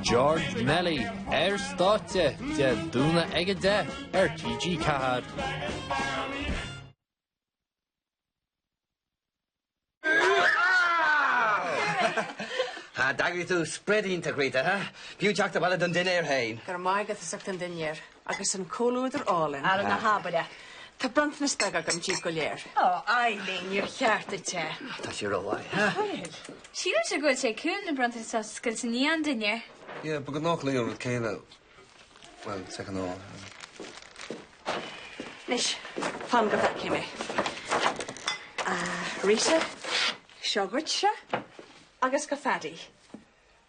George Melly ar stáitse Dé Domhnaigh ag a deich ar TG4. D'eagraigh tú spread iontach, Rita, ha? B'fhiú teacht abhaile don dinnéar féin. Go raibh maith agat, as ucht an dinnéar. Agus an comhluadar álainn. Ara ná habair é. Tá bronntanas beag agam díbh go léir. Ó, Eileen, níor cheart duit é. Tá sí rómhaith. Bhuel, sílim go bhfuil sé cool na bronntanais a oscailt i ndiaidh an dinnéir. Yeah, ba ghnách léi an rud céile. Bhuel, is ag an á. Anois, fan go bhfeice mé. Ah, Rita, seo dhuitse agus do Phaddy.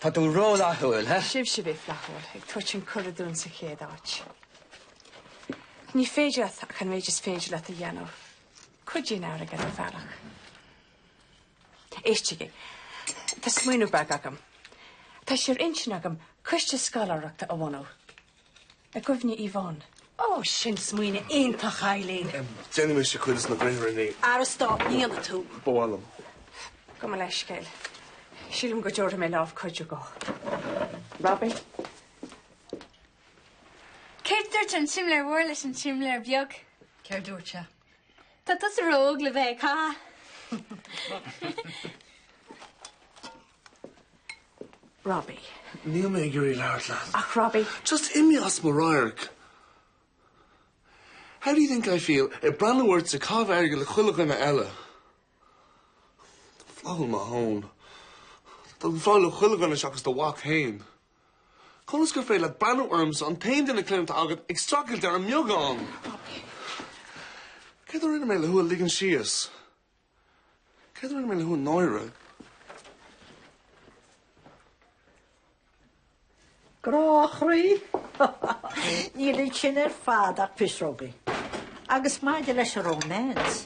Tá tú rófhlaithiúil, ha? Sibhse a bhí flaithiúil, ag tabhairt an cuireadh dúinn sa chéad áit. Ach ní féidir leat ach an méid is féidir leat a dhéanamh. Cuidíonn airgead ar bhealach. Éistigí. Tá smaoineamh beag agam. Tá sé ar intinn agam coiste scoláireachta a bhunú. I gcuimhne Yvonne. Ó, sin smaoineadh iontach, Eileen. Déanfaidh mise cuid de na gréithre. Ara stop, ní dhéanfaidh tú. Ba mhaith liom. Gabh mo leithscéal. Sílim go dtabharfaidh mé lámh cuidiú do Robbie. Céard dúirt an simléar mór leis an simléar beag? Céard dúirt sé? Tá tusa ró-óg le bheith ag caitheamh. Robbie. Níl mé ag iarraidh labhairt leat. Ach Robbie. Just imigh as mo radharc. How do you think I feel ag breathnú ortsa ag caitheamh airgid le chuile dhuine eile? Flaithiúil mo thóin. Tá tú flaithiúil le chuile dhuine seachas do mhac fhéin. Conas gur féidir leat breathnú ormsa an t-aon duine clainne atá agat ag streachailt ar an mbeagán? Robbie. Céard a rinne mé le thú a ligean síos? Céard a rinne mé le thú a náiriú? Grá chroí! Níl ansin ar fad ach pisreogaí. Agus maidir leis an romance,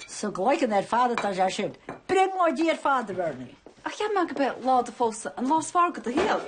sa gcloigeann ar fad atá sé sin, brionglóidí ar fad a Bhernie! Ach cheap mé gurb é lá do phósadh an lá is fearr de do shaol.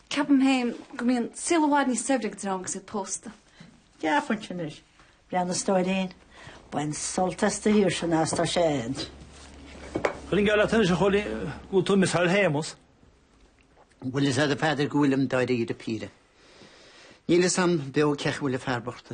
Ceapaim féin go mbíonn saol i bhfad níos saibhre ag dream agus iad pósta. Déarfainn sin anois. Breathnaigh, a stóirín. Bain sult as do shaoirse an fhad is atá sé a'd. Cuirfinn geall leat anois a Chóilí go bhfuil tú ag misseáil Shéamuis. Bhfuil fhios a'd a Pheadair go bhfuilim dáiríre píre. Níl fhios a'm beo cén chaoi a bhfuil an fear bocht.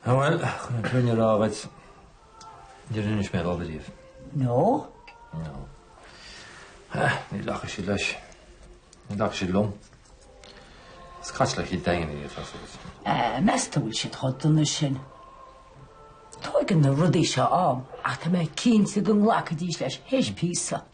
Á bhuel, chun an fhírinne a rá dhuit, níor inis mé dhó ariamh. No? No. Ní ghlacfaidh siad leis. Ní ghlacfaidh siad liom. Is caite le chéad daingean í, atá suas. Eh, meas tú go bhfuil siad chomh dona sin? Tóigeann na rudaí seo am, ach tá mé cinnte go nglacfaidís leis théis píosa.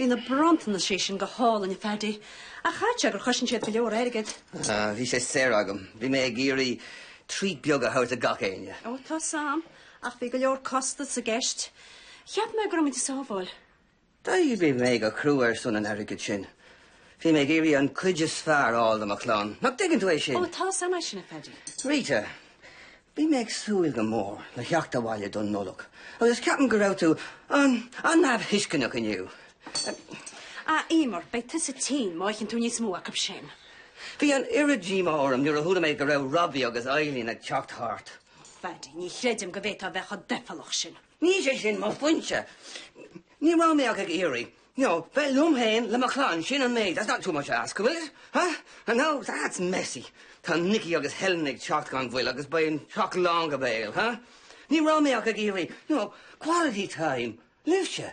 Bhí na bronntanais sin go hálainn, a Phaddy, ach caithfidh sé gur chosain siad go leor airgid. Ah, bhí sé saor agam. Bhí mé ag iarraidh treat beag a thabhairt do gach éinne. Ó, tá a fhios agam, ach bhí go leor costas i gceist. Cheap mé go raibh muid ag sábháil. D'oibrigh mé go crua ar son an airgid sin. Bhí mé ag iarraidh an chuid is fearr a fháil do mo chlann. Nach dtuigeann tú é sin? Ó, tá a fhios agam é sin, a Phaddy. Rita, Bhí mé ag súil go mór le theacht abhaile don Nollaig agus ceapaim go raibh tú an-neamhthuisceanach inniu. A Eimear, beidh tusa tinn má itheann tú níos mó acu sin. Bhí an oiread díomá orm nuair a chuala mé go raibh Robbie agus Eileen ag teacht thart. A Phaidí, ní chreidim go bhféadfá a bheith chomh doicheallach sin. Ní hé sin mo phointe. Ní raibh mé ach ag iarraidh you know, bheith liom féin le mo chlann sin an méid, that's not too much to ask, an bhfuil? Huh? I know, that's messy. Tá Nicky agus Helen ag teacht gan mhoill agus beidh an teach lán go béal, huh? Ní raibh mé ach ag iarraidh, you know, quality time, libhse.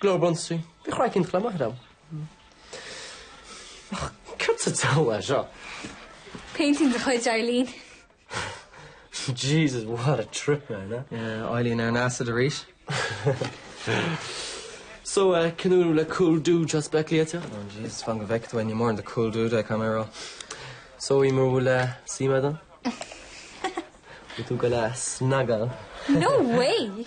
Glór Bronsai. Bhí craic an chluiche maith liom. Ach céard sa diabhal é seo? Painting de chuid Eileen. Jesus, what a trip, man, eh? Yeah, Eileen ar an acid arís. So, eh, cén údar le cool dude seo spec liaite? Oh Jesus, fan go bhfeice tú, ní mórán de cool dude é, caithfidh mé a rá. So, Eimear, an bhfuil, eh, suim agat ann? Bhfuil tú ag goil, á snogáil? No way!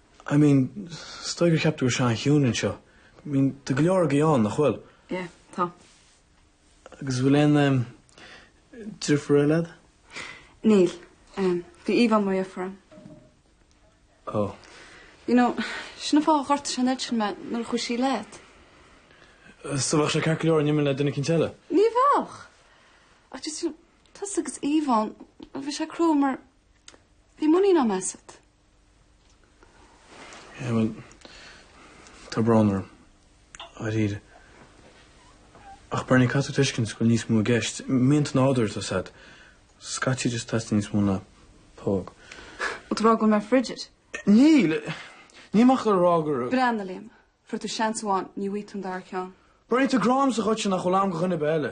I mean, is dóigh gur cheap tú go raibh sé an-chiúin anseo. I mean, tá go leor agaibh ann, nach bhfuil? Yeah, tá. Agus bhfuil aon em deirfiúr agat? Níl. Em, bhí Yvonne mar dheirfiúr agam. Oh. You know, sin an fáth a ghortaigh sé an oiread sin mé nuair a chuaigh sí leat. So bheadh sé ceart go leor dá n-imeoinn le duine eicínt eile? Ní bheadh. Ach just, you know, tusa agus Yvonne, bhí sé crua mar bhí muinín orm asat. Eh bhuel, tá brón orm, á dhear. Ach Bernie caithfidh tú tuiscint go bhfuil níos mó i gceist. Mianta nádúrtha, tá a fhios agat. Scaití just teastaíonn níos mó ná póg. Bhfuil tú ag rá go bhfuil mé frigid. Níl! Níl mé ach ag rá gur. Breathnaigh, a Liam, fuair tú seans amháin, ní bhfaighidh tú an dara ceann. Bernie, tá grá agamsa dhuitse nach bhfuil agam do dhuine ar bith eile.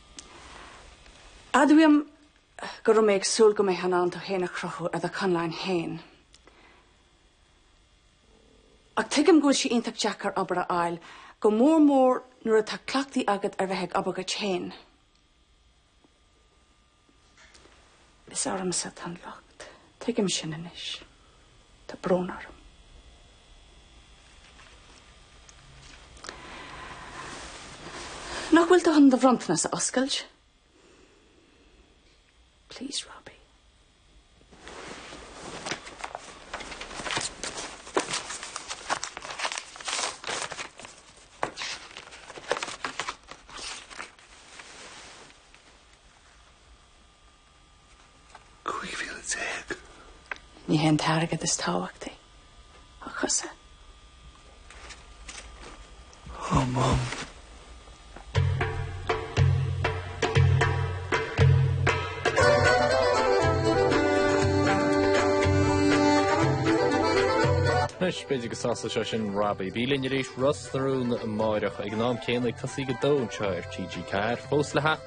Admhaím go raibh mé ag súil go mbeifeá in ann tú féin a chruthú ar do chonlán féin. Ach tuigim go bhfuil sé iontach deacair obair a fháil, go mór mór nuair atá cleachtadh agat ar bheith ag obair dhuit féin. Is ormsa atá an locht. Tuigim sin anois. Tá brón orm. Nach bhfuil tú chun do bhronntanas a oscailt? Please, Robbie. 15,000. Ní hé an t-airgead is tábhachtaí, a chuisle. Ó Mham. Anois, b'fhéidir go sásódh sé sin Robbie. Bí linn arís, Ros na Rún, amárach ag an am céanna ag tosaí go dó anseo ar TG4, fós le theacht.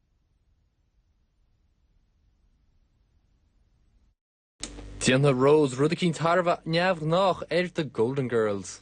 Déanfaidh Rose rud eicínt thar a bheith neamhghnách ar The Golden Girls.